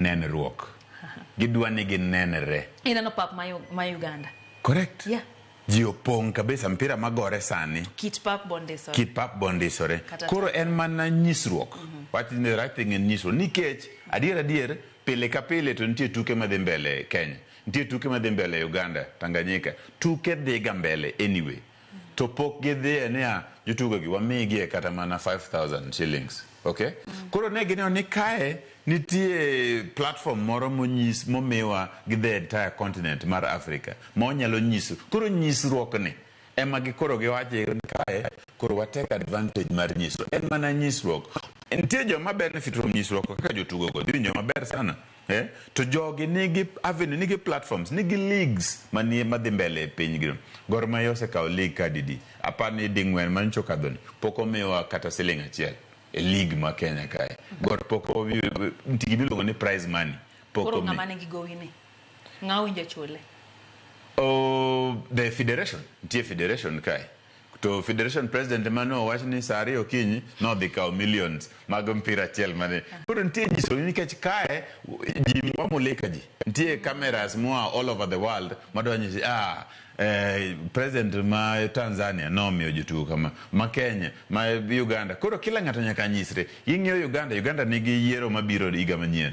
nenruok. Gidwa ni ginenre. Ineno pap ma, ma Uganda. Correct. Yeah. Ji opong' kabisa mpira magore sani. Kit pap bondisore. Kit pap bondisore. Koro en mana nyisruok. Mm -hmm. What is the right thing in nyisruok? Nikech adier adier pile ka pile to nitie tuke madhi mbele Kenya. Nitie tuke madhi mbele Uganda, Tanganyika. Tuke dhiga mbele anyway. to pok gidhiye niya jotugogi wamigie kata mana 5000 shillings okay koro ne gineno ni kae nitie platform moro monyis momiwa gi the entire continent mar africa ma wanyalo nyiso koro nyisruokni ema gikoro giwacho ni kae koro watake advantage mar nyisruok en mana nyisruok nitie joma benefit from nyisruok kaka jotugogo dhi winjo maber sana Eh? To jogi nigi avenue, nigi platforms, nigi leagues manie madhi mbele e piny gino. Gor Mahia osekawo league kadidi? Apar ni di ng'wen man chokadhoni. Pok omiwa kata siling achiel e league ma Kenya kae. Gor pok omi nitigi miluongo ni prize money. Pok Koro omi. ng'ama nigi gowi ni. Ng'awinjo chule. Oh, the federation. Nitie federation kae. To Federation President ema ne owach ni saa ariyo okinyi nodhi kawo millions mag mpira achiel mane. Koro nitie nyisoni nikech kae ji wamulika ji. Nitie cameras moa all over the world madwa nyisi ah eh, president ma Tanzania nomiyo jotugo kama, ma Kenya, ma Uganda. Koro kila ng'ato nyaka nyisre. Ing'iyo Uganda, Uganda nigi yiero mabiro higa manyien.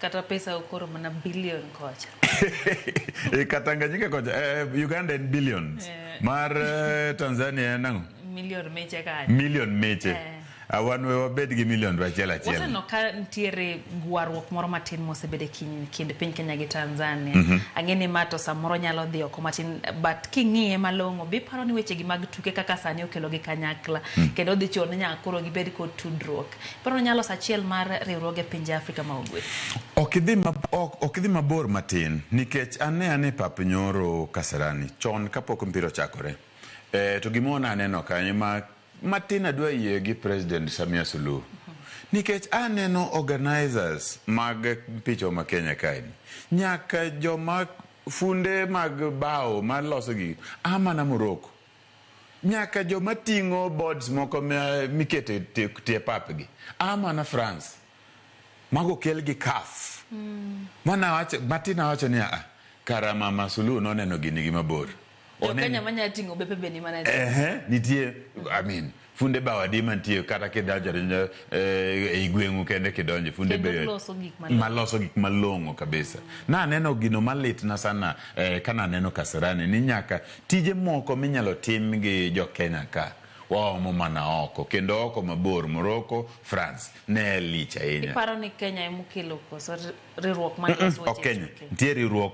kata pesa ukoro mana billion kocha e katanganyika kocha eh, eh, uganda en billions eh. mar eh, tanzania en ang'o million meche kanye million meche eh. Ah, wan we wabed gi million to achiel achiel waseneno ka nitiere gwarruok moro matin mosebedo e kind piny kenya gi tanzania mm -hmm. ang'e ni ma to samoro nyalo dhi oko matin but king'iye malong'o be iparo ni wechegi mag tuke kaka sani okelogi kanyakla mm -hmm. kendo dhi chuno ni nyaka koro gibed kod tudruok Koro onyalo loso achiel mar riwruoge pinje Afrika ma Ugwe. Ok idhi ma, ok, ok idhi mabor matin nikech ane ane pap nyoro Kasarani chon kapok mpira ochakore. E, to gima wana aneno kanyo ma matin adwa yie gi President Samia Suluhu. Nikech aneno organizers mag picho ma Kenya kae ni. Nyaka joma funde mag bao maloso gi a mana Morocco. nyaka joma ting'o boards moko mikete tie pap gi a mana France mago kel gi CAF mm. mana wacho Martin awacho ni a kara mama Suluhu noneno gini gi mabor Kenya manya ting'o bepe be ni mana eh nitie I mean Funde bao adi mantie kata kidonjo eh, ei gweng'u kende kidonjo funde be maloso gik malong'o kabisa. Na aneno gino malitna sana eh, kana aneno Kasarani ni nyaka tije moko minyalo tim gi jo Kenya ka waomo mana oko kendo oko mabor Morocco, France ne lich ahinya. Iparo ni Kenya emokelo koso riwruok mar mm -mm, ok Kenya. Nitie riwruok